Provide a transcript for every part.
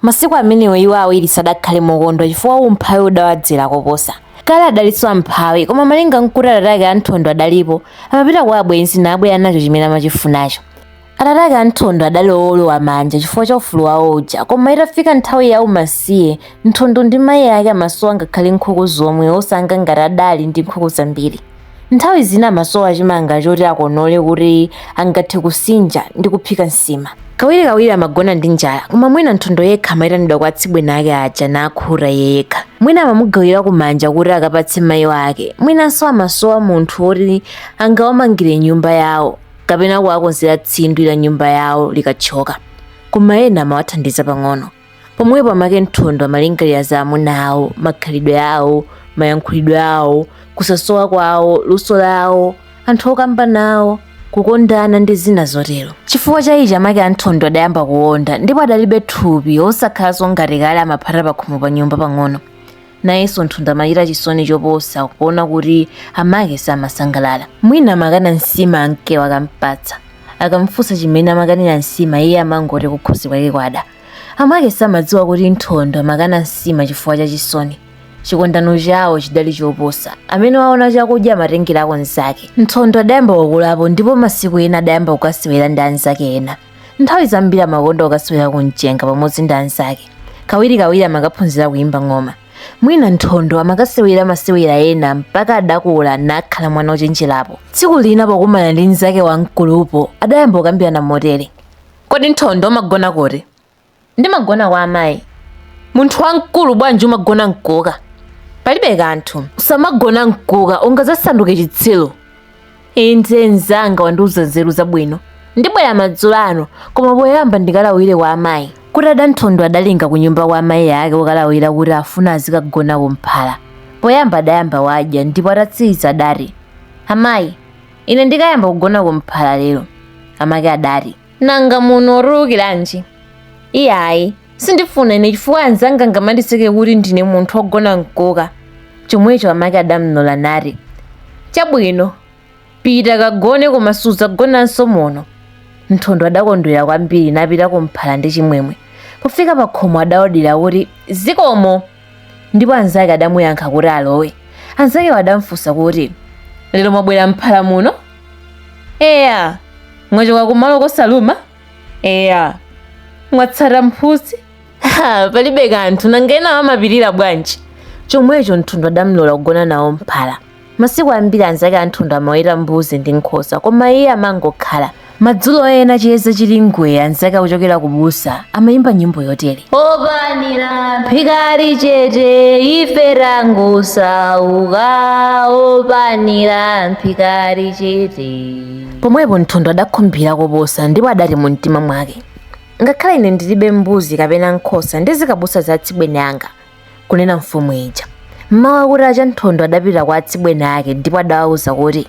Masiku amenewo iwo awiri sadakhale mokondwa chifukwa umphawi udawadzera koposa. Kale adalinso amphawi, koma malinga nkuti atate ake a Nthondo adalipo, amapita kwa abwenzi nabwera nacho chimene amachifunacho. Atate ake a Nthondo adali owolowa manja chifukwa cha ufulu wawo uja, koma itafika nthawi ya umasiye, Nthondo ndi mayi ake amasowa ngakhale nkhuku zomwe, osanga ngati adali ndi nkhuku zambiri. Nthawi zina amasowa chimanga choti akonole kuti angathe kusinja ndi kuphika nsima. Kawirikawiri amagona ndi njala, koma mwina Nthondo yekha amaitanidwa kwa atsibweni ake aja nakhuta iye yekha. Mwina amamugawira kumanja kuti akapatse mayi wake, mwinanso amasowa munthu woti angawamangire nyumba yawo kapena kuwakonzera tsindwi la nyumba yawo likathyoka. Koma ena amawathandiza pang'ono. pomwepo amake Nthondo amalingalira za amuna awo, makhalidwe awo, mayankhulidwe awo, kusasowa kwawo, luso lawo, anthu okamba nawo, kukondana ndi zina zotero. Chifukwa cha ichi amake a Nthondo adayamba kuwonda ndipo adalibe thupi osakhalanso ngati kale amaphata pakhomo pa nyumba pang'ono. nayenso nthondo amachita chisoni choposa kuona kuti amake samasangalala mwina amakana nsima amakewo akampatsa akamfunsa chimene amakanira nsima iye amangoti kukhosi kwake kwada amake samadziwa kuti nthondo amakana nsima chifukwa cha chisoni chikondano chawo chidali choposa amene waona chakudya amatengerako nzake nthondo adayamba kukulapo ndipo masiku ena adayamba kukasewera ndi anzake ena nthawi zambiri amakonda kukasewera ku mchenga pamodzi ndi anzake kawirikawiri amakaphunzira kuyimba ng'oma mwina nthondo amakasewera masewera ena mpaka adakula nakhala mwana wochenjerapo tsiku lina pokumana ndi mnzake wamkulupo adayamba kukambirana motere kodi nthondo umagona kuti Ndimagona kwa amayi. Munthu wamkulu bwanji umagona mkuka? Palibe kanthu. Usamagona mkuka ungadzasanduke chitsiru. Inde mzanga wandiuza nzeru zabwino. Ndibwera madzulo ano koma poyamba ndikalawire kwa amayi. Kutada Nthondo adalinga kunyumba kwa amayi ake kukalawira kuti afuna azikagona kumphala. Poyamba adayamba wadya ndipo atatsiriza adati, Amayi, ine ndikayamba kugona kumphala lero. Amake adati, nanga muno utulukiranji iyayi sindifuna ine chifukwa anzanga angamandiseke kuti ndine munthu ogona mkuka chomwecho amake adamlola nati chabwino pita kagone koma sudzagonanso muno nthondo adakondwera kwambiri napita kumphala ndi chimwemwe pofika pakhomo adaodira kuti zikomo ndipo anzake adamuyankha kuti alowe anzakewo adamfunsa kuti lero mwabwera mphala muno eya mwachoka kumalo kosaluma eya mwatsata mphutsi Ha, palibe kanthu nanga ena amapirira bwanji chomwecho nthondo adamlola kugona nawo mphala Masiku ambiri anzake a Nthondo amaweta mbuzi ndi nkhosa, koma iye amangokhala. Madzulo ena chiyeza chili ngwee, anzake akuchokera kubusa amaimba nyimbo yotere. Opanira mphika ali chete ife tangosauka, opanira mphika ali chete. Pomwepo Nthondo adakhumbira koposa ndipo adati mu mtima mwake, ngakhale ine ndilibe mbuzi kapena nkhosa ndizikabusa za atsibweni anga, kunena mfumu ija mmawa kuti acha nthondo adapita kwa atsibweni ake ndipo adawauza kuti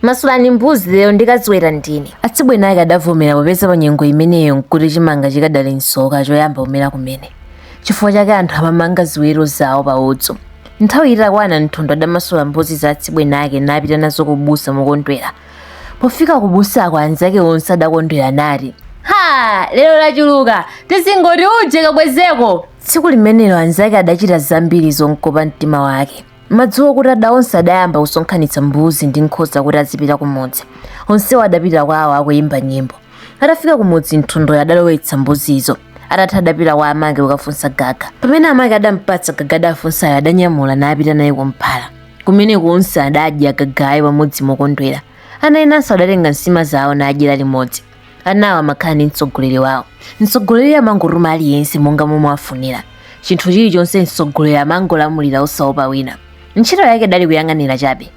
masulani mbuzi lero ndikaziweta ndine atsibweni ake adavomera popeza pa nyengo imeneyo nkuti chimanga chikadali nsoka choyamba kumera kumene chifukwa chake anthu amamanga ziweto zawo pa udzu nthawi itakwana nthondo adamasula mbuzi za atsibweni ake napita nazo kubusa mokondwera pofika kubusako anzake onse adakondwera nati ha lero lachuluka tizingoti uje kabwezeko Tsiku limenelo anzake adachita zambiri zomkopa mtima wake. Madzulo kuti ada onse adayamba kusonkhanitsa mbuzi ndi nkhosa kuti azipita kumudzi. Onsewo adapita kwawo akuyimba nyimbo. Atafika kumudzi Nthondoyo adalowetsa mbuzizo. Atatha adapita kwa amake kukafunsa gaga. Pamene amake adampatsa gaga adafunsayo adanyamula napita naye kumphala. Kumeneko onse adadya gagayo pamodzi mokondwera. Ana enanso adatenga nsima zawo nadyera limodzi. anawo amakhala ndi mtsogoleri wawo mtsogoleri amangotuma aliyense monga momwe afunira chinthu chilichonse mtsogoleri amangolamulira osaopa wina ntchito yake idali kuyang'anira chabe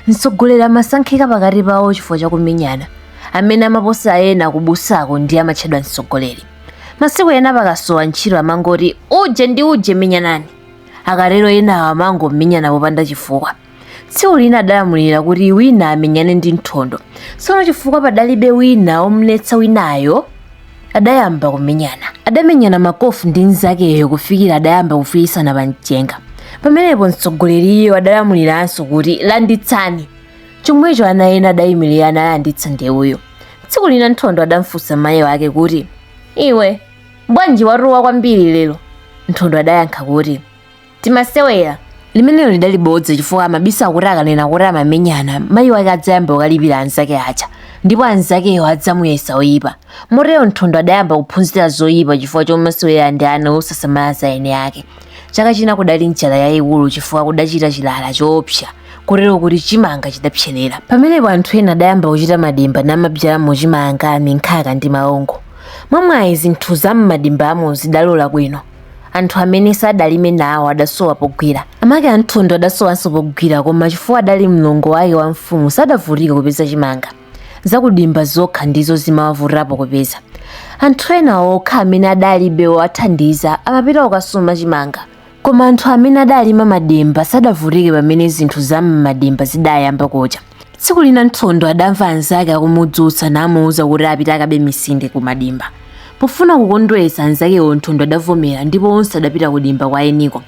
mtsogoleri amasankhika pakati pawo chifukwa chakumenyana amene amaposa ena kubusako ndi amatchedwa mtsogoleri masiku ena pakasowa ntchito amangoti uje ndi uje menyanani akatero enawo amangomenyana popanda chifukwa tsiku lina adalamulira kuti wina amenyane ndi nthondo tsono chifukwa padalibe wina omletsa winayo adayamba kumenyana adamenyana makofu ndi mnzakeyo kufikira adayamba kufiisana pa mchenga pamenepo mtsogoleriyo adalamuliranso kuti landitsani chomwecho ana ena adayimirira nalanditsa ndewuyo tsiku lina nthondo adamfunsa mayi wake kuti iwe bwanji watuwa kwambiri lero nthondo adayankha kuti timasewera limenelo lidali bodza chifukwa amabisa kuti akanena kuti amamenyana mayi wake adzayamba kukalipira anzake aja ndipo anzakewo adzamuyesa oyipa motero nthondo adayamba kuphunzira zoyipa chifukwa chomasewera ndi ana osasamala za ene ake chaka china kudali njala yayikulu chifukwa kudachita chilala choopsa kotero kuti chimanga chidapserera pamenepo anthu ena adayamba kuchita madimba namabzalamo chimanga minkhaka ndi maungu mwamwayi zinthu za m'madimbamo zidalola bwino anthu amene sadalime nawo adasowa pogwira. Amake a Nthondo adasowanso pogwira koma chifukwa adali mlongo wake wa mfumu sadavutike kupeza chimanga. Zakudimba zokha ndizo zimawavutirapo kupeza. Anthu ena okha amene adalibe owathandiza amapita kukasuma chimanga. Koma anthu amene adalima madimba sadavutike pamene zinthu za m'madimba zidayamba kucha. tsiku lina nthondo adamva anzake akumudzutsa namuwuza kuti apite akabe misinde ku madimba pofuna kukondwetsa anzakewo nthondo adavomera ndipo onse adapita ku dimba kwa eniko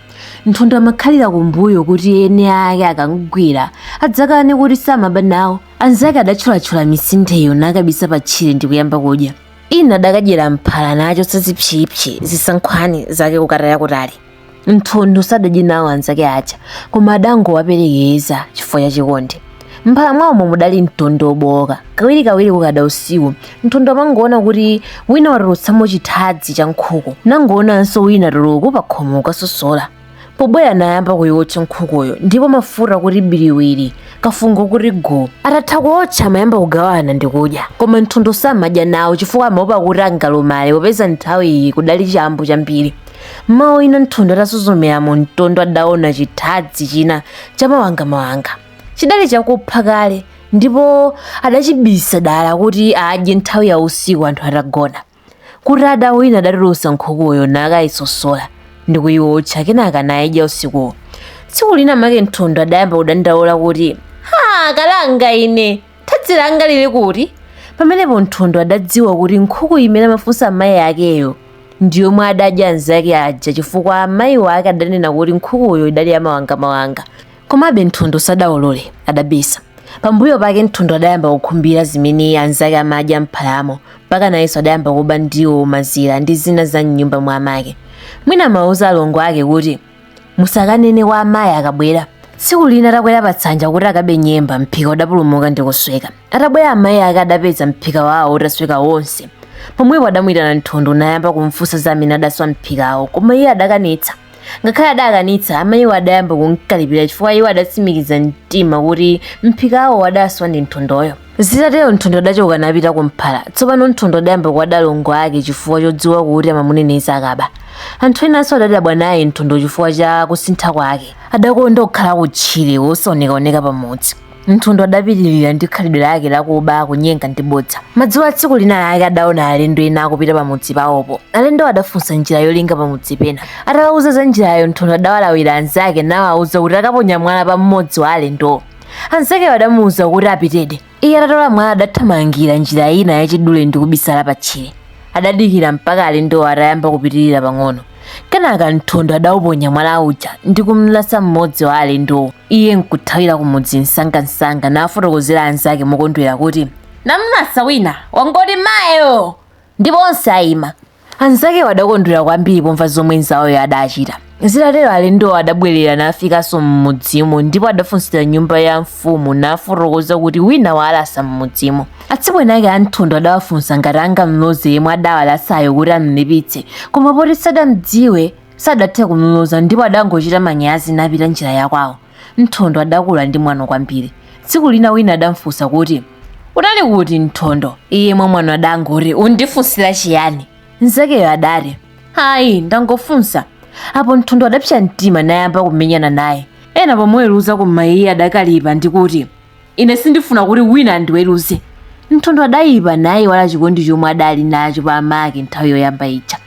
nthondo amakhalira kumbuyo kuti ene ake akamgwira adzakane kuti samaba nawo anzake adatcholatchola misindeyo nakabisa pa tchire ndi kuyamba kudya ina adakadyera mphala nachotsa zipsipsi zisankhwani zake kukataya kutali nthondo sadadye nawo anzake aja koma adangowaperekeza chifukwa cha chikondi mphala mwawomo mudali mtondo wobowoka kawirikawiri kukada usiku nthondo amangoona kuti wina watulutsamo chithadzi cha nkhuku nangoonanso wina tuluku pa khomo kukasosola pobwera nayamba kuiwotcha nkhukuyo ndipo mafuta kuti biriwiri kafungo kuti guu atatha kuotcha amayamba kugawana ndi kudya koma nthondo samadya nawo chifukwa amaopa kuti angalumale popeza nthawi iyi kudali chambu chambiri Mmawa wina Nthondo atasuzumira mu mtondo adaona chithadzi china chamawangamawanga. Chidali chakupha kale ndipo adachibisa dala kuti adye nthawi ya usiku anthu atagona. Kutada wina adatulutsa nkhukuyo nakayisosola ndi kuyiwotcha kenaka nayidya usikuwo. Tsiku lina make Nthondo adayamba kudandaula kuti, Ha, kalanga ine! thadzi langa lili kuti pamenepo nthondo adadziwa kuti nkhuku imene amafunsa amayi akeyo ndi yomwe adadya anzake aja chifukwa amayi wake adanena kuti nkhukuyo idali yamawangamawanga komabe nthondo sadaulule adabisa pambuyo pake nthondo adayamba kukhumbira zimene anzake amadya mphalamo mpaka nayenso adayamba kuba ndiwo mazira ndi zina za mnyumba mwa amake mwina amauza alongo ake kuti musakanene kwa amayi akabwera tsiku lina atakwera patsanja kuti akabe nyemba mphika udapulumuka ndi kusweka atabwera amayi ake adapeza mphika wawo utasweka wonse pomwepo adamuyitana nthondo nayamba kumfunsa za amene adaswa mphikawo koma iye adakanitsa ngakhale adakanitsa amayiwo adayamba kumkalipira chifukwa iwo adatsimikiza mtima kuti mphikawo adaswa ndi nthondoyo zitatero nthondo adachoka napita kumphala tsopano nthondo adayamba kuwada alongo ake chifukwa chodziwa kuti amamuneneza akaba anthu enanso adadabwa naye nthondo chifukwa cha kusintha kwake adakonda kukhala kutchire wosaonekaoneka pamudzi nthondo adapitirira ndi khalidwe lake lakuba kunyenga ndi bodza madzulo a tsiku lina lake adaona alendo ena akupita pamudzi pawopo alendowo adafunsa njira yolinga pamudzi pena atawauza za njirayo nthondo adawalawira anzake nawauza kuti akaponya mwala pa mmodzi wa alendowo anzakewo adamuwuza kuti apitedi iye atatola mwala adathamangira njira ina yachidule ndi kubisala patchire adadikira mpaka alendowo atayamba kupitirira pang'ono kenaka nthondo adauponya mwala uja ndi kumlasa mmodzi wa alendowo iye nkuthawira kumudzi msangamsanga nafotokozera anzake mokondwera kuti namlasa wina wangoti mayo ndipo onse ayima Anzakewo adakondwera kwambiri pomva zomwe mzawoyo adachita. Zitatero alendowo adabwerera nafikanso m'mudzimo ndipo adafunsira nyumba ya mfumu nafotokoza kuti wina waalasa m'mudzimo. Atsibweni ake a Nthondo adawafunsa ngati angamloze yemwe adawalasayo kuti amlipitse, koma poti sadamdziwe sadathe kumloza ndipo adangochita manyazi napita njira yakwawo. Nthondo adakula ndi mwano kwambiri. Tsiku lina wina adamfunsa kuti, Unali kuti Nthondo? Iye mwamwano adangoti, Undifunsira chiyani? Mnzakeyo adati, Ayi, ndangofunsa. Apo Nthondo adapsa mtima nayamba kumenyana naye. Ena pomuweruza koma iye adakalipa ndi kuti, Ine sindifuna kuti wina andiweruze. Nthondo adayipa nayiwala chikondi chomwe adali nacho pa amake nthawi yoyamba ija.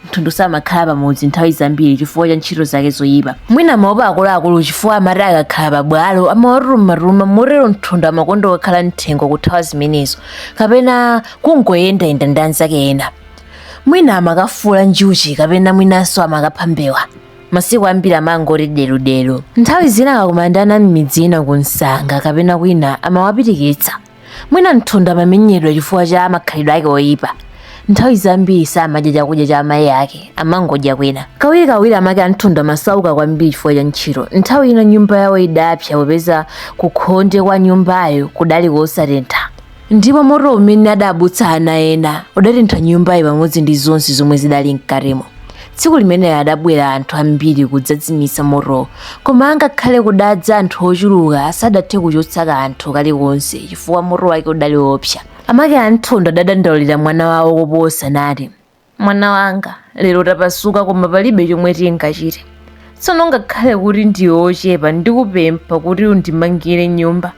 Nthondo samakhala pamudzi nthawi zambiri chifukwa cha ntchito zake zoyipa. Mwina amaopa akuluakulu chifukwa amati akakhala pabwalo amawatumatuma motero Nthondo amakonda kukakhala m'thengo kuthawa zimenezo kapena kungoyendayenda ndi anzake ena. Mwina amakafuula njuchi kapena mwinanso amakapha mbewa. masiku ambiri amangoti deludelu nthawi zina akakumana ndi ana m'midzi ina ku msanga kapena kwina amawapitikitsa mwina nthondo amamenyedwa chifukwa cha makhalidwe ake oyipa nthawi zambiri samadya chakudya cha amayi ake amangodya kwina kawirikawiri amake a nthondo amasauka kwambiri chifukwa cha ntchito nthawi ina nyumba yawo idapsa popeza kukhonde kwa nyumbayo kudali kosatentha ndipo moto umene adabutsa ana ena udatentha nyumbayi pamodzi ndi zonse zomwe zidali mkatimo tsiku limenelo adabwera anthu ambiri kudzazimitsa motowo koma angakhale kudadza anthu ochuluka sadathe kuchotsa kanthu kalikonse chifukwa moto wake udali woopsa amake a Nthondo adadandaulira mwana wawo koposa nati Mwana wanga, lero tapasuka koma palibe chomwe tingachite. Tsono ngakhale kuti ndiwe ochepa ndikupempha kuti undimangire nyumba.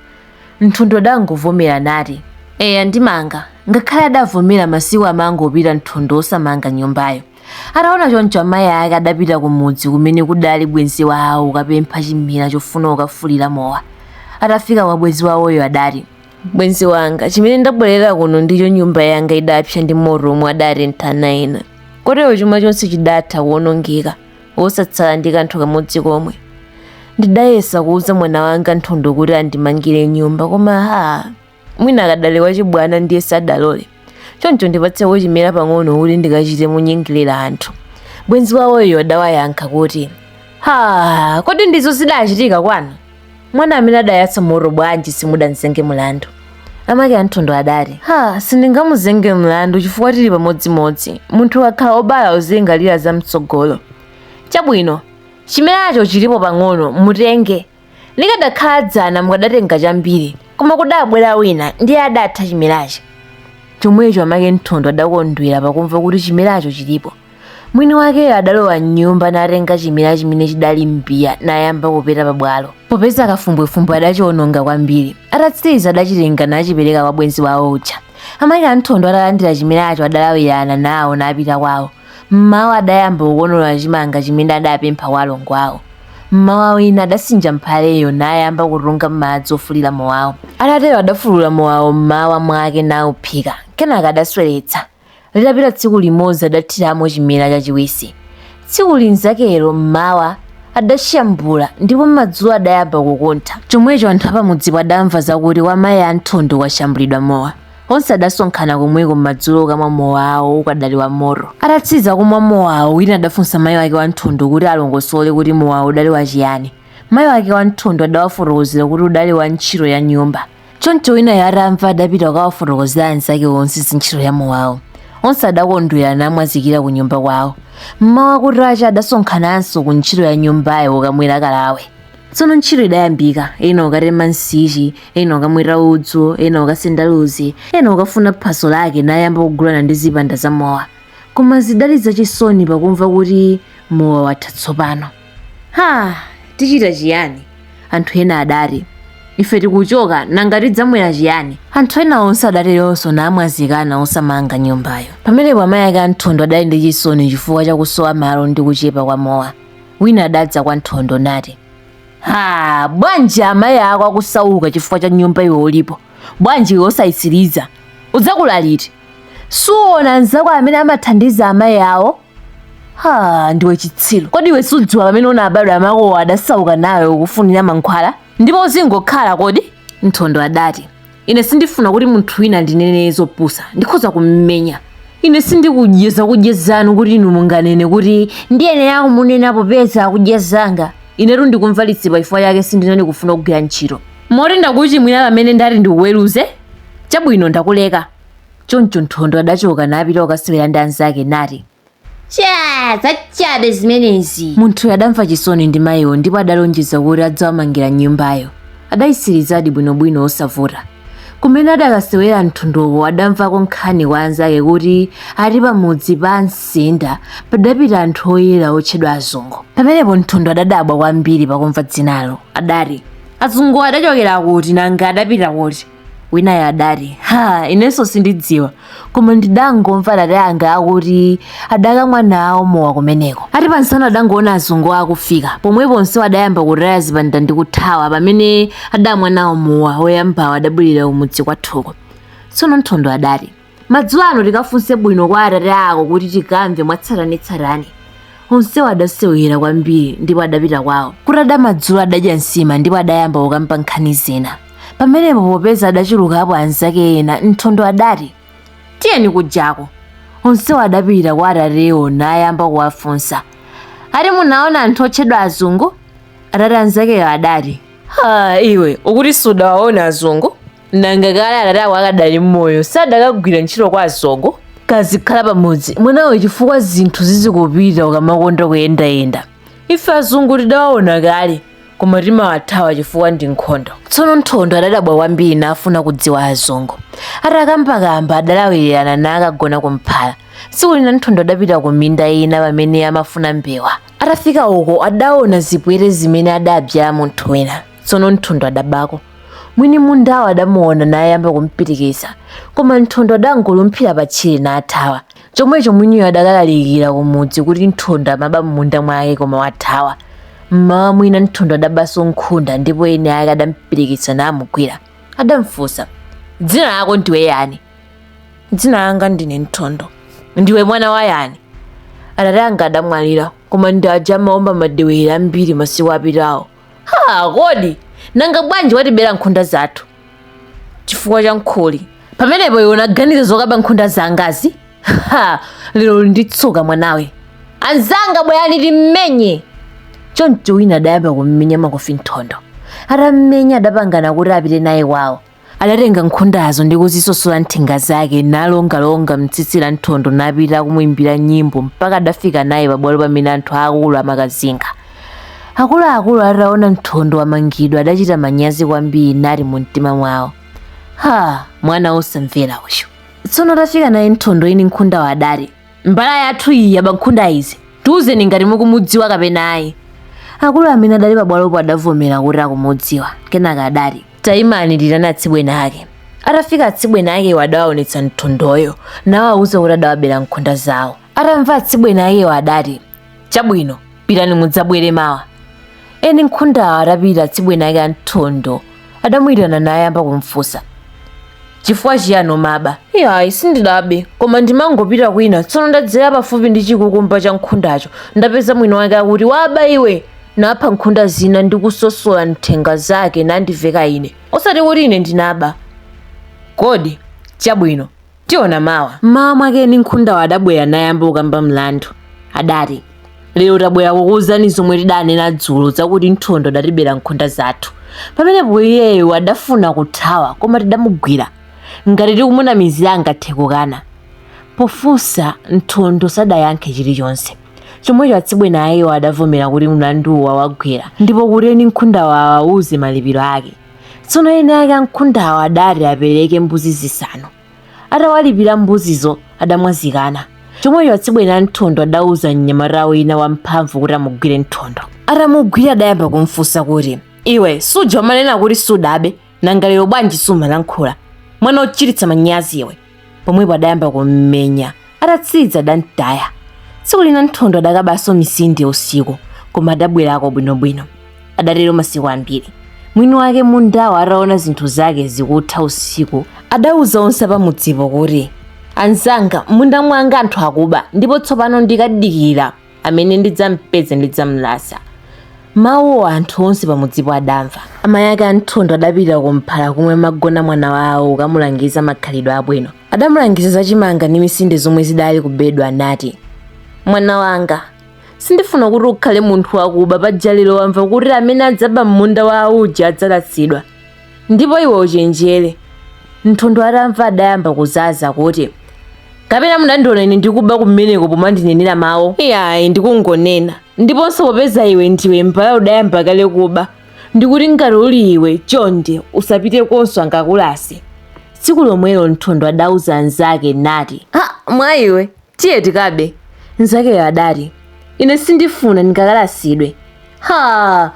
Nthondo adangovomera nati, Eya ndimanga. Ngakhale adavomera masiku amangopita Nthondo osamanga nyumbayo. Ataona choncho amayi ake adapita kumudzi kumene kudali bwenzi wawo kukapempha chimera chofuna kukafulira mowa. Atafika kwa bwenzi wawoyo adati. bwenzi wanga chimene ndabwerera kuno ndicho nyumba yanga idapsa ndi moto omwe adatentha ana ena kotero chuma chonse chidatha kuwonongeka wosatsala ndi kanthu kamodzi komwe ndidayesa kuuza mwana wanga nthondo kuti andimangire nyumba koma ha mwina akadali wachibwana ndiye sadalole choncho ndipatseko chimera pang'ono kuti ndikachite munyengerera anthu bwenzi wawoyo adawayankha kuti ha kodi ndizo zidachitika kwanu mwana amene adayatsa moto bwanji simudamzenge mlandu amake anthondo adati ha sindingamuzenge mlandu chifukwa tili pamodzimodzi munthu ukakhala wobala uzilingalira za mtsogolo chabwino chimeracho chilipo pang'ono mutenge likadakhala dzana mukadatenga chambiri koma kudabwera wina ndiye adatha chimerachi chomwecho amake nthondo adakondwera pakumva kuti chimeracho chilipo mwini wakeyo adalowa m'nyumba natenga chimera chimene chidali m'mbiya nayamba kupeta pabwalo popeza kafumbwefumbwe adachiwononga kwambiri atatsiriza adachitenga nachipereka kwa bwenzi wawo uja amake anthondo atalandira chimeracho adalawirana nawo napita kwawo mmawa adayamba kukonola chimanga chimene adapempha kwa alongo awo mmawa wina adasinja mphaleyo nayamba kutunga madzi ofulira mowawo atatero adafulula mowawo mmawa mwake nauphika kenaka adasweretsa litapita tsiku limodzi adathiramo chimera chachiwisi tsiku linzakelo mmawa adashambula ndipo madzulo adayamba kukuntha chomwecho anthu apamudzipo adamva zakuti kwa mayi a nthondo kwashambulidwa mowa onse adasonkhana komweko mmadzulo ukamwa mowawo ukadali wa moto atatsiza kumwa mowawo wina adafunsa mayi wake wa nthondo kuti alongosole kuti mowawo udali wachiyani mayi wake wa nthondo adawafotokozera kuti udali wa ntchito ya nyumba choncho winayo atamva adapita kukawafotokozera anzake onse za ntchito ya mowawo onse adakondwera namwazikira ku nyumba kwawo mmawa kutacha adasonkhananso ku ntchito ya nyumbayo ukamwera kalawe tsono ntchito idayambika ena ukatema nsichi ena ukamweta udzu ena ukasenda luzi ena ukafuna phaso lake nayamba kugulana ndi zipanda za mowa koma zidali zachisoni pakumva kuti mowa watha tsopano ha tichita chiyani anthu ena adati ife tikuchoka nanga tidzamwera chiyani anthu ena onse adateronso namwazikana osamanga nyumbayo pamenepo amayi ake a nthondo adali ndi chisoni chifukwa chakusowa malo ndi kuchepa kwa mowa wina adadza kwa nthondo nati ha bwanji amayi ako akusauka chifukwa cha nyumba iwe ulipo bwanji iwe osayitsiriza udzakula liti suona anzako amene amathandiza amayi awo ha ndiwe chitsiru kodi iwe sudziwa pamene unabadwa amakowo adasauka nawe ukufunira mankhwala ndipo uzingokhala kodi nthondo adati ine sindifuna kuti munthu wina andinene zopusa ndikhoza kummenya ine sindikudya zakudya zanu kuti inu munganene kuti ndiyenera kumunena popeza akudya zanga inetu ndikumva litsipa chifukwa chake sindinali kufuna kugwira ntchito moti ndakuchimwira pamene ndati ndikuweruze chabwino ndakuleka Choncho Nthondo adachoka napita kukasewera ndi anzake nati, Cha, zachabe zimenezi. Munthuyo adamva chisoni ndi mayiwo ndipo adalonjeza kuti adzawamangira nyumbayo. Adayitsirizadi bwinobwino osavuta. Kumene adakasewera Nthondowo adamvako nkhani kwa anzake kuti ati pamudzi pa Msinda padapita anthu oyera otchedwa azungu. Pamenepo Nthondo adadabwa kwambiri pakumva dzinalo. Adati, Azunguwo adachokera kuti nanga adapita kuti? winayo adati ha inenso sindidziwa koma ndidangomva atate anga akuti adakamwa nawo mowa kumeneko ati pamsana adangoona azungu akufika pomwepo onse adayamba kutaya zipanda ndi kuthawa pamene adamwa nawo mowa oyambawo adabwerera kumudzi kwathuko tsono nthondo adati Madzulo ano tikafunse bwino kwa atate ako kuti tikamve mwatsatanetsatane. Onsewo adasewera kwambiri ndipo adapita kwawo. Kutada madzulo adadya nsima ndipo adayamba kukamba nkhani zina. Pamenepo popeza adachulukapo anzake ena, Nthondo adati, Tiyeni kujako. Onsewo adapita kwa atatewo nayamba kuwafunsa. Ati munaona anthu otchedwa azungu? Atate anzakeyo adati, Ha, iwe ukuti sudawaona azungu? nanga kale atate ako akadali mmoyo sadakagwira ntchito kwa azungu kazikhala pamudzi mwanawe chifukwa zinthu zizikupita ukamakonda kuyendayenda ife azungu tidawaona kale koma timawathawa chifukwa ndi nkhondo tsono nthondo adadabwa kwambiri nafuna kudziwa azungu atakambakamba adalawirana nakagona kumphala tsiku lina nthondo adapita ku minda ina pamene amafuna mbewa atafika uko adaona zipwete zimene adabzala munthu wina tsono nthondo adabako mwini mundawo adamuona nayamba kumpitikitsa koma nthondo adangolumphira patchire nathawa chomwecho mwiniyo adakalalikira kumudzi kuti nthondo amaba m'munda mwake koma wathawa mmawa mwina nthondo adabanso nkhunda ndipo eni ake adampitikitsa namugwira adamfunsa dzina lako ndiwe yani dzina langa ndine nthondo ndiwe mwana wa yani atate anga adamwalira koma ndi aja amaomba madewere ambiri masiku apitawo ha kodi nanga bwanji watibera nkhunda zathu chifukwa cha nkhuli pamenepo iwe unaganiza zokaba nkhunda zangazi ha lero uli ndi tsoka mwanawe anzanga bwerani timmenye choncho wina adayamba kummenya makofi nthondo atammenya adapangana kuti apite naye kwawo Adatenga nkhundazo ndi kuzisosola nthenga zake, nalongalonga m'tsitsi la Nthondo napita akumuimbira nyimbo mpaka adafika naye pabwalo pamene anthu aakulu amakazinga. Akuluakulu ataona Nthondo wamangidwa adachita manyazi kwambiri nati mumtima mwawo, Ha! Mwana wosamvera uyu. Tsono atafika naye Nthondo eni nkhundawo adati, Mbala yathu iyi yaba nkhunda izi. Tiuzeni ngati mukumudziwa kapena ayi. Akulu amene adali pabwalopo adavomera kuti akumudziwa. Kenaka adati, Taimani ndiitane atsibwene ake. Atafika atsibwene akewo adawaonetsa Nthondoyo nawauza kuti adawabera nkhunda zawo. Atamva atsibwene akewo adati, Chabwino, pitani mudzabwere mawa. Eni nkhundawo atapita atsibwene ake a Nthondo adamuitana nayamba kumfunsa, Chifukwa chiyani umaba? Iyayi, sindidabe, koma ndimangopita kwina, tsono ndadzera pafupi ndi chikukumba cha nkhundacho ndapeza mwini wake akuti, Waba iwe! napha nkhunda zina ndi kusosola nthenga zake nandiveka ine osati kuti ine ndinaba kodi chabwino tiona mawa mmawa mwake eni nkhundawo adabwera nayamba kukamba mlandu adati lero tabwera kukuwuzani zomwe tidanena dzulo zakuti nthondo adatibera nkhunda zathu pamenepo iyeyo adafuna kuthawa koma tidamugwira ngati tikumunamizira angathe kukana pofunsa nthondo sadayankhe chilichonse chomwecho atsibwene akewo adavomera kuti mlanduwo wawagwera ndipo kuti eni nkhundawo awauze malipiro ake tsono eni ake a nkhundawo adati apereke mbuzi zisanu atawalipira mbuzizo adamwazikana chomwecho atsibwene a nthondo adauza mnyamata wina wamphamvu kuti amugwire nthondo atamugwira adayamba kumfunsa kuti iwe suja umanena kuti sudabe nanga lero bwanji sumalankhula mwana wochititsa manyazi iwe pomwepo adayamba kummenya atatsidza adamtaya tsiku lina nthondo adakabanso misinde usiku koma adabwerako bwinobwino adatero masiku ambiri mwini wake mundawo ataona zinthu zake zikutha usiku adauza onse apamudzipo kuti anzanga munda mwanga anthu akuba ndipo tsopano ndikadikira amene ndidzampeze ndidzamlasa mawuwo anthu onse pamudzipo adamva amayi ake a nthondo adapita kumphala kumwe amagona mwana wawo kukamulangiza makhalidwe abwino adamulangiza za chimanga ndi misinde zomwe zidali kubedwa anati mwana wanga sindifuna kuti ukhale munthu wakuba paja lero wamva kuti amene adzaba m'munda wa auja adzalasidwa ndipo iwe uchenjere nthondo atamva adayamba kuzaza kuti kapena munandiona ine ndikuba kumeneko pomandinenera mawu iyayi ndikungonena ndiponso popeza iwe ndiwe mbala udayamba kale kuba ndikuti ngati uli iwe chonde usapite konso angakakulase tsiku lomwelo nthondo adauza anzake nati ha mwa iwe Tiye tikabe, mnzakeyo adati. Ine sindifuna ndingakalasidwe. Ha!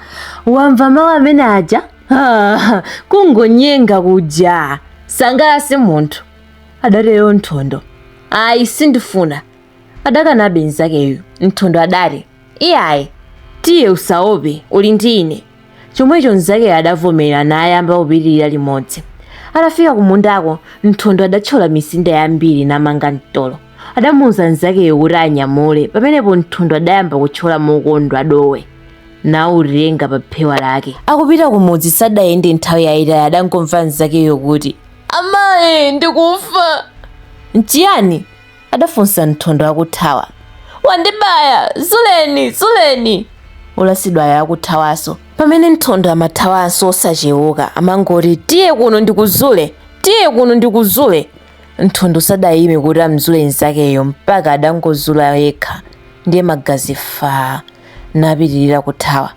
Wamva mawu amene aja? Ha! Kungonyenga kuja. Sangalase munthu. Adatero Nthondo. Ayi sindifuna. Adakanabe mnzakeyo. Nthondo adati, Iyayi, tiye usaope, uli ndi ine. chomwecho mnzakeyo adavomera nayamba kupitirira limodzi atafika kumundako nthondo adathyola misinda yambiri namanga mtolo adamuuza mnzakeyo kuti anyamule pamenepo nthondo adayamba kuthyola mokondwa dowe nautenga pa phewa lake akupita kumudzi sadayende nthawi yayitali adangomva mnzakeyo kuti amayi ndikufa nchiyani adafunsa Nthondo akuthawa. Wandibaya! Zuleni! Zuleni! Wolasidwayo akuthawanso. Pamene Nthondo amathawanso osacheuka, amangoti tiye kuno ndikuzule, tiye kuno ndikuzule. Nthondo sadayime kuti amzule mnzakeyo mpaka adangozula yekha ndiye magazi faa napitirira kuthawa.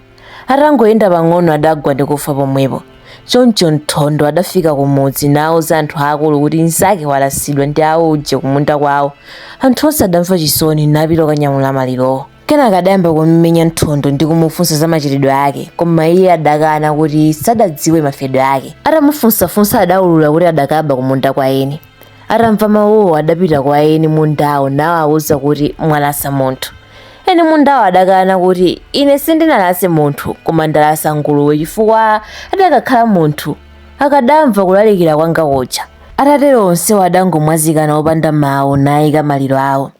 Atangoyenda pang'ono adagwa ndi kufa pomwepo. Choncho Nthondo adafika kumudzi nauza anthu aakulu kuti mnzake walasidwa ndi auje kumunda kwawo. Anthu onse adamva chisoni napita kukanyamula malirowo. Kenaka adayamba kummenya Nthondo ndi kumufunsa za machitidwe ake, koma iye adakana kuti sadadziwe mafedwe ake. Atamufunsafunsa adaulula kuti adakaba kumunda kwa eni. atamva mawuwo adapita kwa eni mundawo nawawuza kuti mwalasa munthu eni mundawo adakana kuti ine sindinalase munthu koma ndalasa nguluwe chifukwa adakakhala munthu akadamva kulalikira kwanga kuja atatero onsewo adangomwazikana opanda mawu nayika maliro awo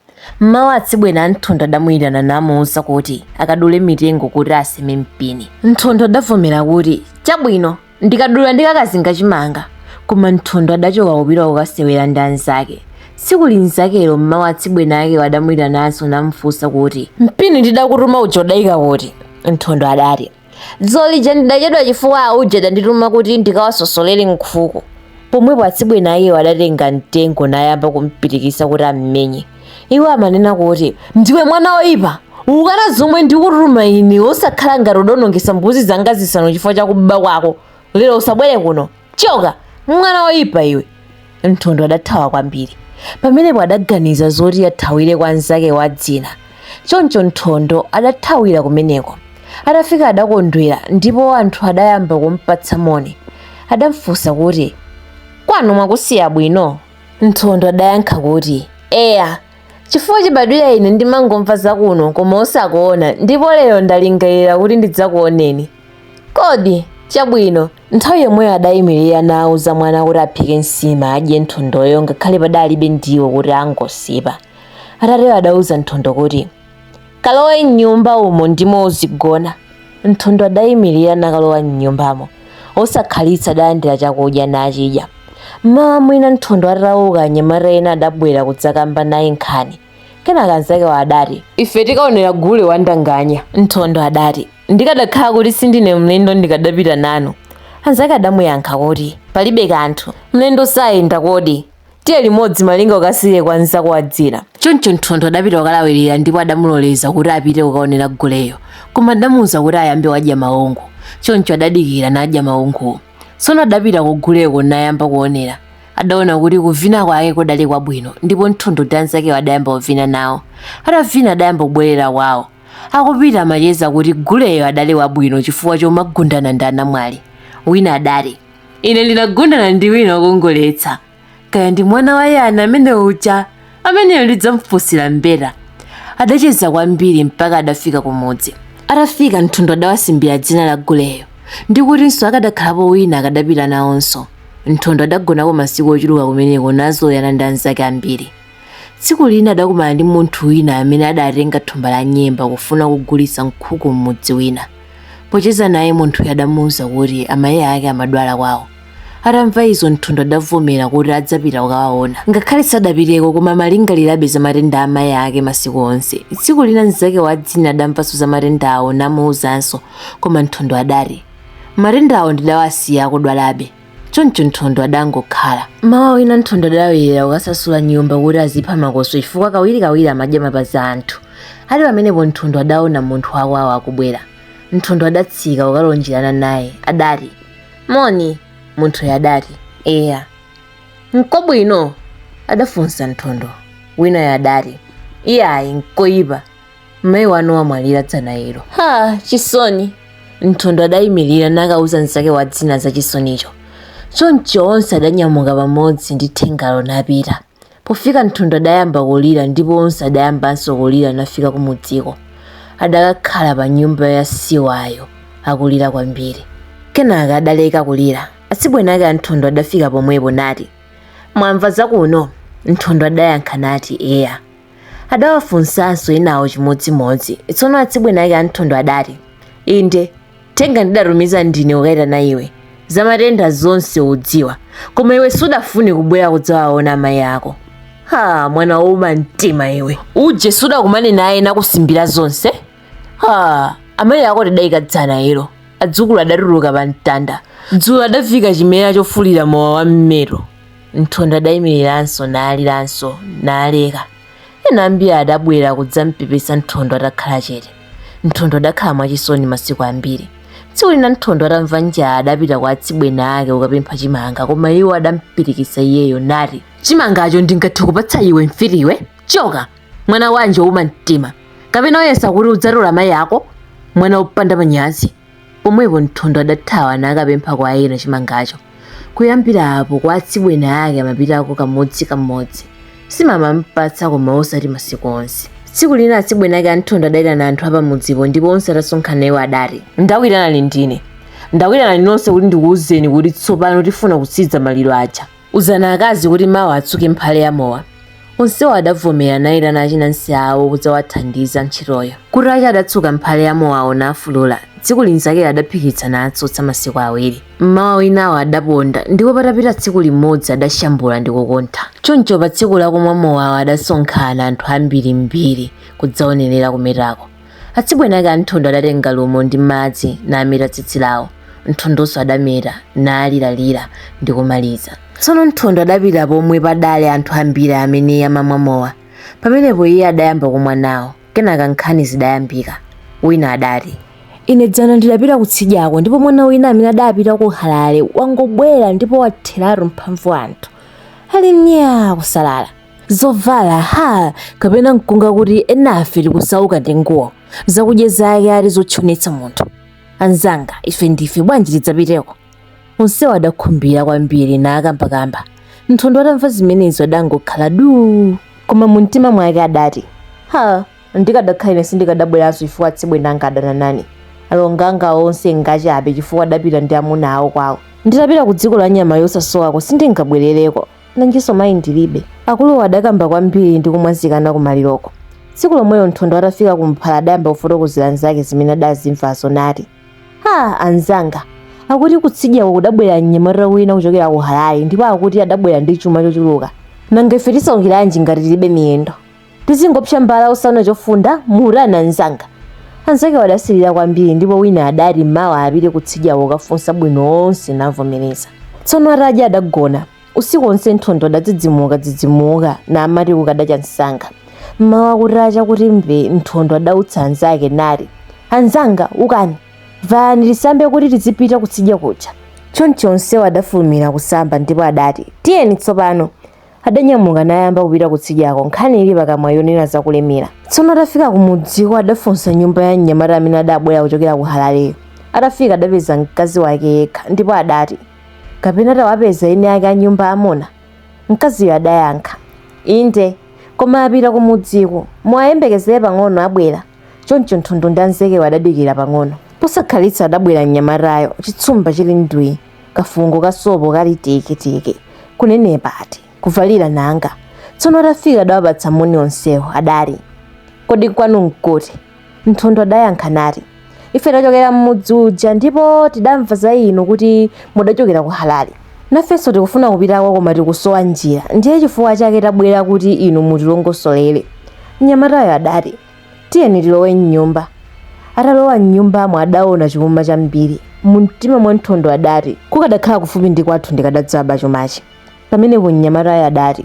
mmawu atsibweni a nthondo adamuyitana namuwuza kuti akadule mitengo kuti aseme mpini nthondo adavomera kuti chabwino ndikadula ndikakazinga chimanga koma nthondo adachoka kupita kukasewera ndi anzake tsiku linzakero mmawa atsibweni akewo adamuyitananso namfunsa kuti mpini ndidakutuma uja udayika kuti nthondo adati dzolija ndidachedwa chifukwa auja adandituma kuti ndikawasosolere nkhuku pomwepo atsibweni akewo adatenga mtengo nayamba kumpirikitsa kuti ammenye iwo amanena kuti ndiwe mwana woyipa ukana zomwe ndikutuma ine osakhala ngati udaonongetsa mbuzi zanga zisanu chifukwa cha kuba kwako lero usabwere kuno choka mwana woyipa iwe nthondo adathawa kwambiri pamenepo adaganiza zoti athawire kwa mnzake wa dzina choncho nthondo adathawira kumeneko atafika adakondwera ndipo anthu adayamba kumpatsa moni adamfunsa kuti kwanu mwakusiya bwino Nthondo adayankha kuti, Eya, chifukwa chibadwira ine ndimangomva zakuno koma osakuona ndipo lero ndalingalira kuti ndidzakuoneni. Kodi, chabwino. Nthawi yomweyo adayimirira nauza mwana kuti aphike nsima adye Nthondoyo ngakhale padalibe ndiwo kuti angosipa. Atatero adauza Nthondo kuti. Kalowe m'nyumba umo ndimo uzigona. Nthondo adaimirira nakalowa m'nyumbamo. Osakhalitsa adalandira chakudya nachidya. M'mawa mwina Nthondo atauka anyamata ena adabwera kudzakamba naye nkhani. Kenaka anzakewo adati. Ife tikaonera gule wa ndanganya. Nthondo adati, Ndikadakhala kuti sindine mlendo ndikadapita nanu. Anzake adamuyankha kuti, Palibe kanthu. Mlendo sayenda kodi? tiye limodzi malinga ukasiye kwa mnzako wa dzina choncho nthondo adapita kukalawirira ndipo adamuloleza kuti apite kukaonera guleyo koma adamuwuza kuti ayambe wadya maungu choncho adadikira nadya maunguwo tsono adapita kuguleko nayamba kuonera adaona kuti kuvina kwake kudali kwabwino ndipo nthondo ndi anzakewo adayamba kuvina nawo atavina adayamba kubwerera kwawo akupita amacheza kuti guleyo adali wabwino chifukwa chomagundana ndi anamwali wina adati ine ndinagundana ndi wina wokongoletsa kaya ndi mwana wa yani amene uja ameneyo ndidzamfunsira mbeta adacheza kwambiri mpaka adafika kumudzi atafika nthondo adawasimbira dzina la guleyo ndi kutinso akadakhalapo wina akadapita nawonso nthondo adagonako masiku ochuluka kumeneko nazoyana ndi anzake ambiri Tsiku lina adakumana ndi munthu wina amene adatenga thumba la nyemba kufuna kugulitsa nkhuku m'mudzi wina. Pocheza naye munthuyo adamuuza kuti amayi ake amadwala kwawo. Atamva izo Nthondo adavomera kuti adzapita kukawaona. Ngakhale sadapiteko koma amalingalirabe za matenda a amayi ake masiku onse. Tsiku lina mnzake wa dzina adamvanso za matendawo namuuzanso, koma Nthondo adati, Matendawo ndidawasiya akudwalabe. choncho nthondo adangokhala m'mawa wina nthondo adakwera kukasasula nyumba kuti azipha makoswe chifukwa kawirikawiri amadya mapazi a anthu ali pamenepo nthondo adaona munthu wakwawo akubwera nthondo adatsika kukalonjerana naye adati moni munthuyo adati eya nkobwino adafunsa nthondo winayo adati iyayi nkoyipa mayi wanu wamwalira dzana ilo ha chisoni nthondo adayimirira nakauza mnzake wa dzina za chisonicho choncho onse adanyamuka pamodzi ndi thengalo napita pofika nthondo adayamba kulira ndipo onse adayambanso kulira nafika kumudziko adakakhala pa nyumba ya siwayo akulira kwambiri kenaka adaleka kulira atsibweni ake a nthondo adafika pomwepo nati mwamva zakuno nthondo adayankha nati eya adawafunsanso enawo chimodzimodzi tsono atsibweni ake a nthondo adati inde thenga ndidatumiza ndine kukayitana iwe za matenda zonse udziwa koma iwe sudafune kubwera kudzawaona amayi ako ha mwana wouma mtima iwe uje sudakumane naye nakusimbira zonse ha amayi ako tidayika dzana ilo adzukulu adatuluka pa mtanda dzulo adaviika chimera chofulira mowa wa m'meto Nthondo adayimiriranso naliranso naleka. Ena ambiri adabwera kudzampepesa Nthondo atakhala chete. Nthondo adakhala mwachisoni masiku ambiri. Tsiku lina Nthondo atamva njala adapita kwa atsibweni ake kukapempha chimanga koma iwo adampirikitsa iyeyo nati, Chimangacho ndingathe kupatsa iwe mfiti iwe? Choka! Mwana wanji wouma mtima! Kapena uyesa kuti udzatola mayi ako? Mwana wopanda manyazi! Pomwepo Nthondo adathawa nakapempha kwa ena chimangacho. Kuyambira apo kwa atsibweni ake amapitako kamodzi kamodzi. Nsima amampatsa koma osati masiku onse. Tsiku lina atsibweni ake a Nthondo adaitana anthu apamudzipo ndipo onse atasonkhana iwo adati, Ndakuyitanani ndine. Ndakuyitanani nonse kuti ndikuwuzeni kuti tsopano tifuna kutsiriza maliro aja. Uzani akazi kuti mawa atsuke mphale ya mowa. Onsewo adavomera naitana achinansi awo kudzawathandiza ntchitoyo. Kutacha adatsuka mphale ya mowawo nafulula. Tsiku linzakeli adaphikitsa natsotsa masiku awiri. Mmawa winawo adaponda ndipo patapita tsiku limodzi adashambula ndi kukuntha. Choncho pa tsiku lakumwa mowawo adasonkhana anthu ambirimbiri kudzaonerera kumetako. Atsibweni ake a Nthondo adatenga lumo ndi madzi nameta tsitsi lawo. Nthondonso adameta, naliralira ndi kumaliza. Tsono Nthondo adapita pomwe padali anthu ambiri amene amamwa mowa. Pamenepo iye adayamba kumwa nawo. Kenaka nkhani zidayambika. Wina adati. Ine dzana ndidapita kutsidyako ndipo mwana wina amene adapita ku Harare wangobwera ndipo watheratu mphamvu anthu ali myaa kusalala. zovala ha kapena mkunga kuti enafe tikusauka ndi nguwo zakudya zake ati zotchonetsa munthu anzanga ife ndife bwanji tidzapiteko onsewo adakhumbira kwambiri nakambakamba nthondo atamva zimenezo adangokhala duu koma mumtima mwake adati ha ndikadakhala ine sindikadabweranso chifukwa atsibweni anga adana nane alonga anga onse ngachabe chifukwa adapita ndi amuna awo kwawo nditapita ku dziko la nyama yosasowako sindingabwerereko nanjinso mayi ndilibe akuluwo adakamba kwambiri ndi kumwazikana kumaliroko tsiku lomwelo nthondo atafika kumphala adayamba kufotokozera anzake zimene adazimvazo nati ha anzanga akuti kutsidyako kudabwera mnyamata wina kuchokera ku harare ndipo akuti adabwera ndi chuma chochuluka nanga ife tisaukiranji ngati tilibe miyendo tizingopsa mbala osaona chofunda mutani anzanga anzakewo adasirira kwambiri ndipo wina adati mawa apite kutsidyako kukafunsa bwino onse navomereza tsono atadya adagona usiku wonse nthondo adadzidzimuka dzidzimuka namati kukadacha msanga mmawa kutacha kuti mbee nthondo adautsa anzake nati anzanga ukani valani tisambe kuti tizipita kutsidya kuja choncho onsewo adafulumira kusamba ndipo adati tiyeni tsopano Adanyamuka nayamba kupita kutsidyako, nkhani ili pakamwa yonena za kulemera. Tsono atafika kumudziko adafunsa nyumba ya mnyamata amene adabwera kuchokera ku Halaleyo. Atafika adapeza mkazi wake yekha, ndipo adati, Kapena tawapeza eni ake a nyumba amuna? Mkaziyo adayankha, Inde, koma apita kumudziko. Muwayembekezere pang'ono, abwera. Choncho Nthondo ndi anzakewo adadikira pang'ono. Posakhalitsa adabwera mnyamatayo, chitsumba chili ndwii. kafungo ka sopo kali teketeke kunenepa ati kuvalira nanga tsono atafika adawapatsa moni onsewo adati kodi kwanu nkuti nthondo adayankha nati ife tachokera m'mudzi uja ndipo tidamva za inu kuti mudachokera ku halale nafenso tikufuna kupitako koma tikusowa njira ndiye chifukwa chake tabwera kuti inu mutilongosolere mnyamatayo adati Tiyeni tilowe m'nyumba. Atalowa m'nyumbamo adaona chuma chambiri. Mumtima mwa Nthondo adati, Kukadakhala kufupi ndi kwathu ndikadadzaba chumachi. Pamenepo mnyamatayo adati,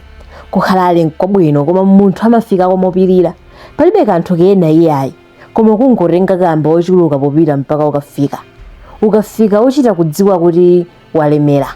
Ku Halale nkwabwino, koma munthu amafikako mopirira. Palibe kanthu kena iyayi, koma kungotenga kamba wochuluka popita mpaka ukafika. Ukafika uchita kudziwa kuti walemera.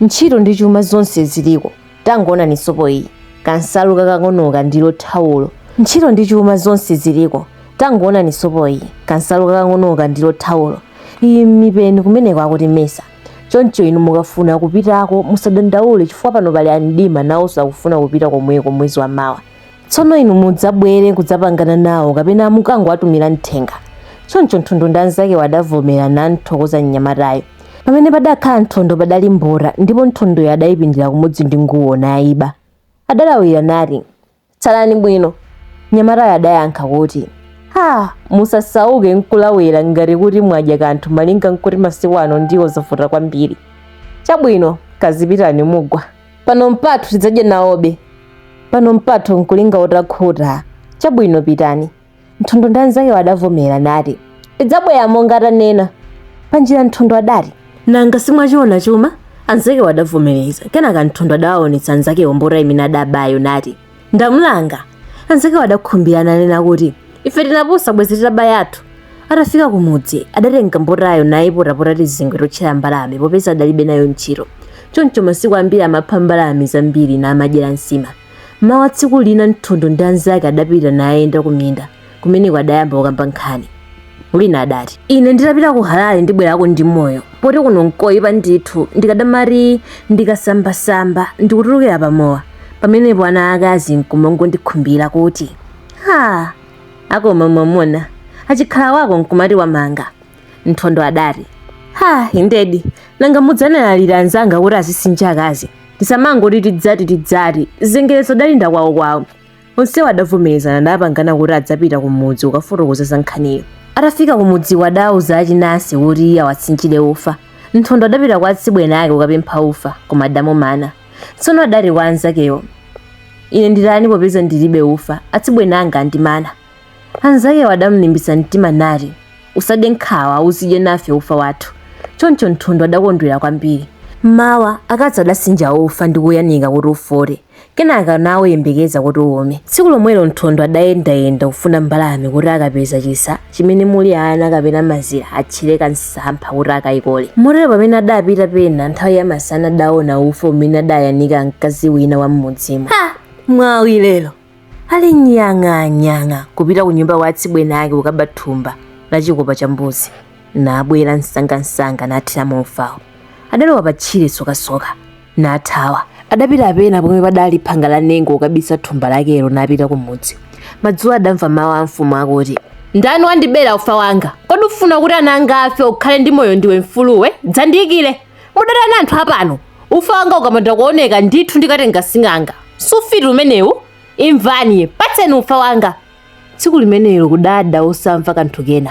Ntchito ndi chuma zonse ziliko. tangoonani sopo iyi kansalu kakang'onoka ndilo thawulo ntchito ndi chuma zonse ziliko tangoonani sopo iyi kansalu kakang'onoka ndilo thawulo iyi mipeni kumeneko akuti mesa choncho inu mukafuna kupitako musadandaule chifukwa pano pali amdima nawonso akufuna kupita komweko mwezi wa mawa tsono inu mudzabwere kudzapangana nawo kapena mukangowatumira mthenga choncho nthondo ndi anzakewo adavomera namthokoza mnyamatayo pamene padakhala nthondo padali mbota ndipo nthondoyo adayipindira kumodzi ndi nguwo nayiba adalawira nati tsalani bwino mnyamatayo adayankha kuti ha musasauke nkulawira ngati kuti mwadya kanthu malinga nkuti masiku ano ndiwo zavuta kwambiri chabwino kazipitani mugwa pano mpathu tidzadya nawobe pano mpathu nkulinga utakhuta chabwino pitani nthondo ndi anzakewo adavomera nati tidzabwera monga tanena panjira nthondo adati nanga simwachiona chuma anzakewo adavomereza kenaka nthondo adawaonetsa anzakewo mbota imene adabayo nati ndamulanga anzakewo adakhumbira nanena kuti ife tinapusa bwezi titaba yathu atafika kumudzi adatenga mbotayo nayipotapota tizingwe totchera mbalame popeza adalibe nayo ntchito choncho masiku ambiri amapha mbalame zambiri namadyera nsima mmawa tsiku lina nthondo ndi anzake adapita nayenda kuminda kumeneko adayamba kukamba nkhani wina adati ine nditapita ku halale ndibwerako ndi moyo poti kuno nkoyipa ndithu ndikadamati ndikasambasamba ndikutulukira pamowa pamenepo ana akazi nkumangondikhumbira kuti ha akoma mwamuna achikhala wako nkumati wamanga nthondo adati ha indedi nanga mudzanalalira anzanga kuti azisinja akazi tisamangoti tidzati tidzati zengerezu adalinda kwawukwawu onsewo adavomerezana napangana kuti adzapita ku mudzi kukafotokoza za nkhaniyo atafika ku mudziwo adauza achinansi kuti awasinjire ufa nthondo adapita kwa atsibweni ake kukapempha ufa koma adamumana tsono adati kwa anzakewo ine nditani popeza ndilibe ufa atsibweni anga andimana anzakewo adamlimbitsa mtima nati usade nkhawa uzidye nafe ufa wathu choncho nthondo adakondwera kwambiri mmawa akazi adasinja ufa ndi kuyanika kuti ufote Kenaka nauyembekeza kuti uume. Tsiku lomwelo Nthondo adayendayenda kufuna mbalame kuti akapeza chisa chimene muli ana kapena mazira atchere kamsampha kuti akaikole. Motero pamene adapita pena nthawi yamasana adaona ufa umene adayanika mkazi wina wa m'mudzimo. Ha! Mwawi lero! Ali nyang'anyang'a kupita kunyumba kwa atsibweni ake kukaba thumba la chikopa cha mbuzi. Nabwera msangamsanga nathiramo ufawo. Adalowa patchire sokasoka. nathawa. Adapita pena pomwe padali phanga la nengo kukabisa thumba lakelo napita kumudzi. Madzulo adamva mawu a mfumu akuti, Ndani wandibera ufa wanga? Kodi ufuna kuti ana anga afe ukhale ndi moyo ndiwe mfuluwe? Dzandiyikire! Mudatani anthu apano! Ufa wanga ukapanda kuoneka ndithu ndikatenga sing'anga. Si ufiti umenewu? Imvani, patseni ufa wanga! tsiku limenelo kudada osamva kanthu kena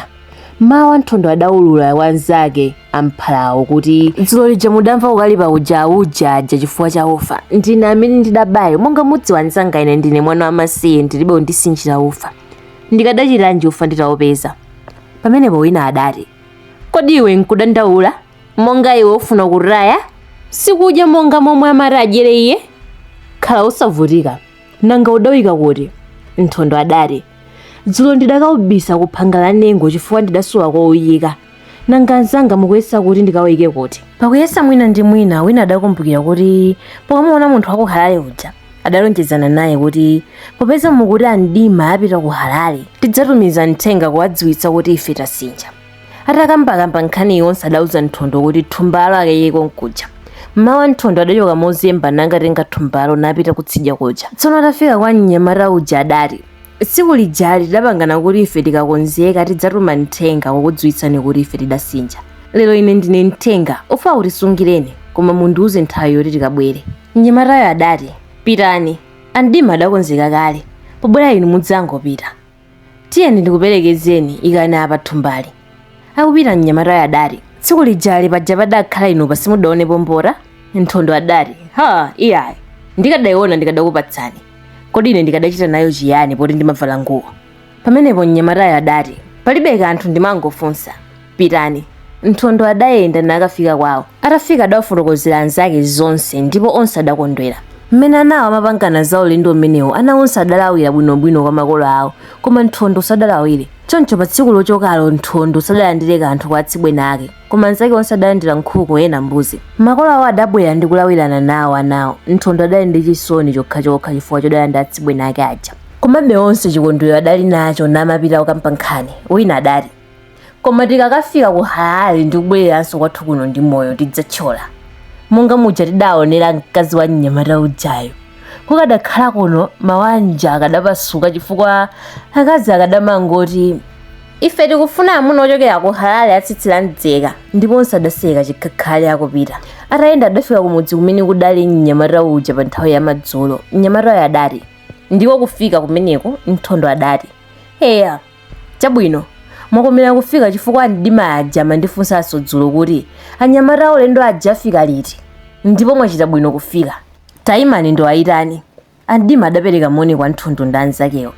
mmawa Nthondo adaulula kwa anzake a mphalawo kuti dzulo lija mudamva kukalipa kuja auje aja chifukwa cha ufa ndine amene ndidabayo monga mudziwa anzanga ine ndine mwana wamasiye ndilibe wondisinjira ufa ndikadachitanji ufa nditaupeza pamenepo wina adati kodi iwe nkudandaula monga iwe ufuna kutaya sikudya monga momwe amati adyere iye khala usavutika nanga udauika kuti nthondo adati dzulo ndidakaubisa ku phanga la nengo chifukwa ndidasowa kouyika nanga anzanga mukuyesa kuti ndikawuyike kuti pakuyesa mwina ndi mwina wina adakumbukira kuti pokamuona munthu wa ku halale uja adalonjezana naye kuti popeza mukuti amdima apita ku halale tidzatumiza mthenga kuwadziwitsa kuti ife tasinja atakambakamba nkhani yonse adauza nthondo kuti thumbalo akayike konkuja mmawa nthondo adachoka mozemba nangatenga thumbalo napita kutsidya kuja tsono atafika kwa mnyamata uja adati tsiku lijali tidapangana kuti ife tikakonzeka tidzatuma mthenga kukudziwitsani kuti ife tidasinja lero ine ndine mthenga ufawu tisungireni koma mundiuze nthawi yoti tikabwere mnyamatayo adati pitani amdima adakonzeka kale pobwera inu mudzangopita tiyeni ndikuperekezeni ikani apa thumbali akupita mnyamatayo adati tsiku lijali paja padakhala inupa simudaonepo mbota nthondo adati ha iyayi ndikadayiona ndikadakupatsani kodi ine ndikadachita nayo chiyani poti ndimavala nguwo pamenepo mnyamatayo adati palibe kanthu ndimangofunsa pitani nthondo adayenda nakafika kwawo atafika adawafotokozera anzake zonse ndipo onse adakondwera mmene anawo amapangana za ulendo umenewo ana onse adalawira bwinobwino kwa makolo awo koma nthondo sadalawire choncho pa tsiku lochokalo nthondo sadalandire kanthu kwa atsibweni ake koma anzake onse adalandira nkhuku ena mbuzi makolo awo adabwera ndi kulawirana nawo anawo nthondo adali ndi chisoni chokhachokha chifukwa chodana ndi atsibweni ake aja komabe onse chikondwero adali nacho namapita kukamba nkhani wina adati koma tikakafika ku harare ndi kubwereranso kwathu kuno ndi moyo tidzathyola monga muja tidaonera mkazi wa mnyamata ujayo kukadakhala kuno mawanja akadapasuka chifukwa akazi akadamangoti ife tikufuna amuna ochokera ku harare atsitsi la mdzeka ndipo onse adaseka chikhakhali akupita atayenda adafika kumudzi kumene kudali mnyamata uja pa nthawi ya madzulo mnyamatayo adati ndiko kufika kumeneko nthondo adati eya Chabwino, mwakomera kufika chifukwa a Mdima aja amandifunsanso dzulo kuti anyamata aulendo aja afika liti ndipo mwachita bwino kufika. Taimani ndiwayitane. A Mdima adapereka moni kwa Nthondo ndi anzakewo.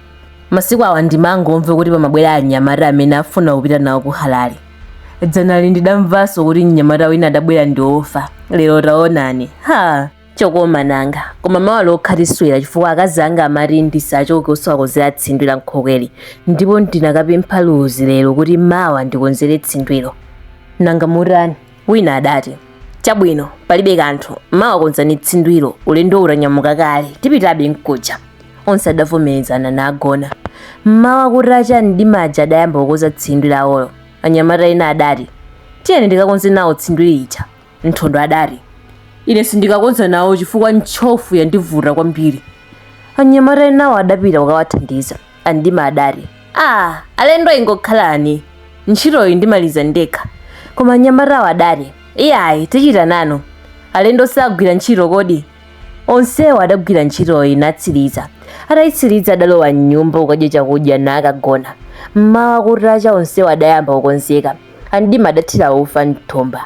Masiku awa ndimangomva kuti pamabwera anyamata amene afuna kupita nawo ku Harare. Dzanali ndidamvanso kuti mnyamata wina adabwera ndi ufa. Lero taonani. Ha! chokoma nanga koma mawa lokha tiswera chifukwa akazi anga amati ndisachoke osawakonzera tsindwi la nkhokweli ndipo ndinakapempha luzi lero kuti mawa ndikonzere tsindwilo nanga mutani wina adati chabwino palibe kanthu mawa konzani tsindwilo ulendo utanyamuka kale tipitabe mkuja onse adavomerezana nagona mmawa kutacha a mdima aja adayamba kukonza tsindwi lawolo anyamata ena adati tiyeni tikakonze nawo tsindwi lija Nthondo adati, Ine sindikakonza nawo chifukwa ntchofu yandivuta kwambiri. Anyamata enawo adapita kukawathandiza. A Mdima adati, Aa, alendo ingokhalani. Ntchitoyi ndimaliza ndekha. Koma anyamatawo adati, Iyayi, tichita nanu. Alendo sagwira ntchito kodi? Onsewo adagwira ntchitoyi natsiriza. Ataitsiriza adalowa m'nyumba kukadya chakudya nakagona. M'mawa kutacha onsewo adayamba kukonzeka. A Mdima adathira ufa m'thumba.